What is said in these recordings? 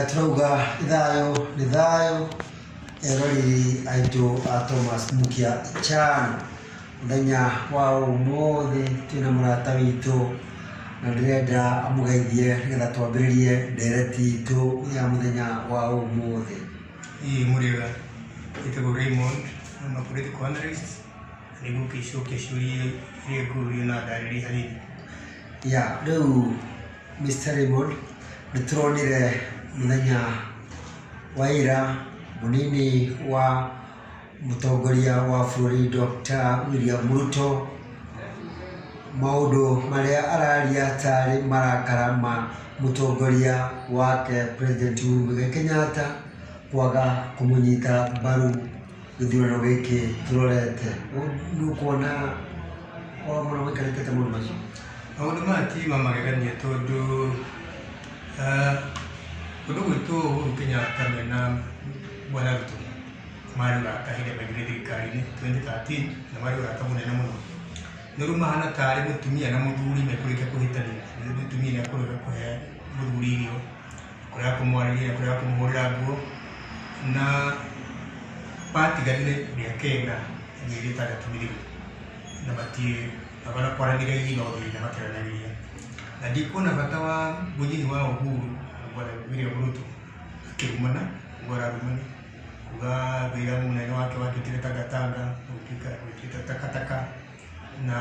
Tũrauga nĩ thayũ nĩ thayũ eroreri aitũ a Thomas Mukia Chan, mũthenya wa ũmũthĩ twĩna mũrata witũ na ndĩrenda amũgeithie nĩgetha twambĩrĩrie ndereti itũ ya mũthenya wa ũmũthĩ. Hii mũrĩega njĩtagwo Raymond kuma kũrĩ The Cornerists nĩ ngũkĩcokia ciũria iria ngũrio na ndarĩrie hanini. Ya rĩu Mister Raymond, nĩ tũronire mũthenya wa ira mũnini wa mũtongoria wa bũrũri Doctor William Ruto, maũndũ marĩa araria tarĩ marakara ma mũtongoria wake President Uhuru Muigai Kenyatta kwaga kũmũnyita mbaru. Gĩthurano gĩkĩ tũrorete, nĩ ũkuona kwao mũno maikarĩte atĩa maũndũ macio? Maũndũ maya ti ma magegania tondũ kũndũ gwitũ Uhuru Kenyatta me na Bwana Ruto marĩ arata hĩndĩ ĩrĩa maingĩrire thirikari-inĩ twenty thirteen na marĩ ũrata mũnene mũno. No rĩu mahana tarĩ mũtumia na mũthuri mekũrĩkia kũhĩtania, rĩu mũtumia nĩ ekũrega kũhe mũthuri irio. kũrega kũmwarĩria kũrega kũmũhũrĩra nguo na batiganire mĩaka ĩna mĩeri ĩtandatũ mĩthiru na matiĩ abana kwaranĩria hihi no thĩna makĩaranagĩria na ndikuona bata wa mũnyihi wa Uhuru bwana William Ruto akĩrumana ũguo ararumana kuga wĩra mũnene wake watuĩkire tangatanga gũtuĩka gũtuĩka takataka na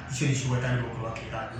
icio nĩcio atagĩrĩirwo gũkorwo akĩra andũ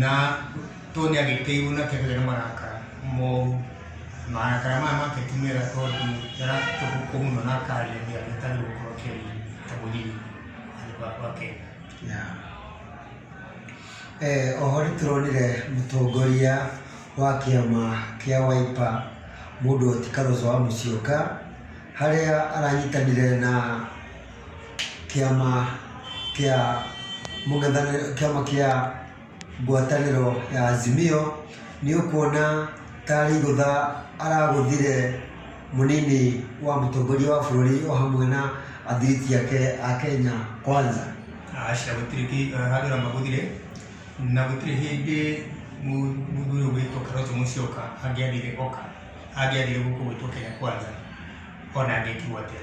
na tondũ nĩ agĩteirwo na kĩndũ gĩake nĩ marakara moru marakara maya make ti mega tondũ ndaratukwo mũno na akaria nĩ agĩtarĩ gũkorwo kĩri ta mũthiri handũ ga kwa kenda Eh, oho nĩ tũronire mũtongoria wa kĩama kĩa waipa mũndũ ti karoco wa mũcioka harĩa aranyitanire na kĩama kĩa mũng'ethanĩro, kĩama kĩa ngwatanĩro ya Azimio, nĩ ũkuona ta arĩ igũtha aragũthire mũnini wa mũtongoria wa bũrũri o hamwe na athiriti ake a Kenya Kwanza. Aca gũtirĩ kĩ- eh, handũ ramagũthire na gũtirĩ hĩndĩ mu- mũthuri ũyũ wĩtwo Kalonzo Musyoka angĩathire oka angĩathire gũkũ gwitũ Kenya Kwanza ona angĩkirwo atĩa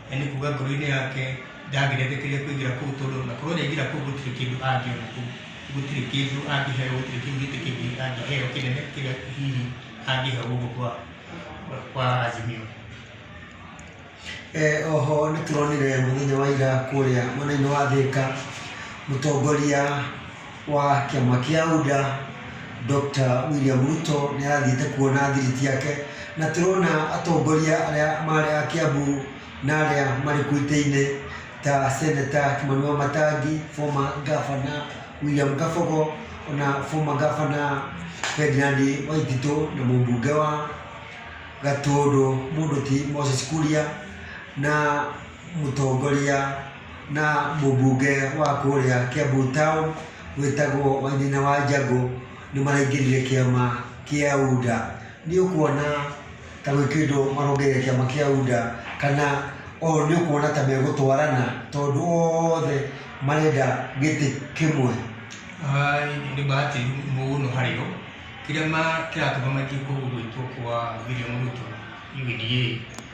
Nĩ kuuga ngoro-inĩ yake ndangĩretĩkĩria kũingĩra kũu tondũ na korwo nĩaingĩra kũu gũtirĩ kĩndũ angĩona kũu, gũtirĩ kĩndũ angĩheo, gũtirĩ kĩu gĩtĩ kĩngĩ angĩheo kĩnene kĩrĩa hihi angĩheo gũkũ kwa kwa Azimio. Eh, oho nĩ tũronire mũthenya wa ira kũrĩa mwena-inĩ wa Thĩka mũtongoria wa kĩama kĩa UDA Dr. William Ruto nĩ arathiĩte kuona thiriti yake na tũrona atongoria arĩa marĩ a Kiambu na arĩa marĩ kuo itĩ-inĩ ta Seneta Kimani Wamatangi, former governor William Kabogo ona former governor Ferdinand Waititũ na mũmbunge wa Gatũndũ mũndũ ti Moses Kuria na mũtongoria na mũbunge wa kũrĩa Kiambu Town wĩtagwo Wainaina wa Njagũ nĩ maraingĩrire kĩama kĩa UDA. Nĩ ũkuona ta gwĩ kĩndũ marongereire kĩama kĩa UDA kana o nĩ ũkuona ta megũtwarana tondũ othe marenda gĩtĩ kĩmwe? Nĩ bahati mũno harĩ o. Kĩrĩa kĩratũma matige gwĩtwo kwa William Ruto, UDA,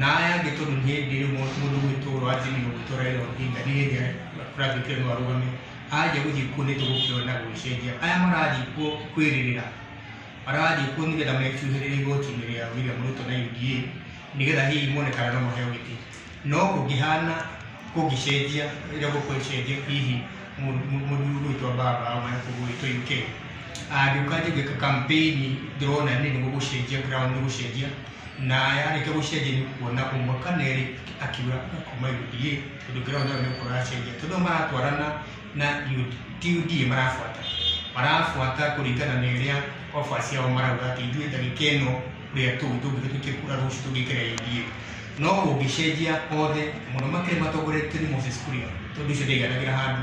na aya angĩ tondũ nĩ hĩndĩ ĩyo mũndũ mũndũ gwĩtũgũrũ anjĩrĩirio gũtũra ĩno hinga nĩ hĩndĩ ya Frank Kĩrũ arũgame anjia gũthiĩ kuo nĩ tũgũkĩona gũgĩcenjia aya marathiĩ kuo kwĩrĩrĩra marathiĩ kuo nĩgetha mecuhĩrĩre igoti-inĩ rĩa William Ruto na UDA nĩgetha hihi mone kana no maheo gĩtĩ no kũngĩhana kũngĩcenjia rĩrĩa gũkũ ĩcenjia hihi mũndũ mũndũ- mũndũ gwĩtwa baba au kana kũndũ gwĩtwa UK angĩũka njĩkĩka kampĩini ndĩrona nĩ nĩ gũgũcenjia ground nĩ gũcenjia na yarĩkia gũcenjia nĩ kuona ũmwe kana erĩ akiuga akoma UDA tondũ ngĩrora nayo nĩ ũkora acenjia tondũ maratwarana na ti UDA marabuata marabuata kũringana na ĩrĩa oba ciao marauga atĩ ithuĩ ndagĩka ĩno ũrĩa tũu tũngĩka tũikie kura rũciũ tũngĩkĩra UDA no kũngĩcenjia othe mũno makĩria matongoretio nĩ Moses Kuria tondũ ũcio ndaiganagĩra handũ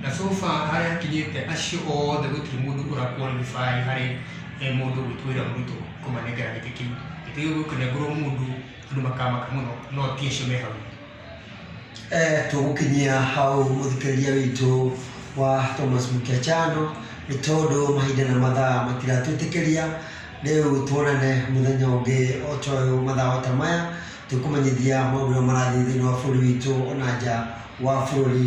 Na so far harĩa hakinyĩte acio othe gũtirĩ mũndũ ũra qualify harĩ eh, mũndũ gwĩtwo William Ruto kũmanengera gĩtĩ kĩu gĩtĩ kĩu gĩkũnengũrwo mũndũ andũ makamaka mũno no ti acio me hau Eh, tũgũkinyia hau mũthikĩrĩria witũ wa Thomas Mũkĩachano nĩ tondũ mahinda na mathaa matiratwĩtĩkĩria rĩu tuonane mũthenya ũngĩ o ta ũyũ mathaa o ta maya tũkũmenyithia maũndũ marĩa marathiĩ thĩinĩ wa bũrũri witũ ona nja wa bũrũri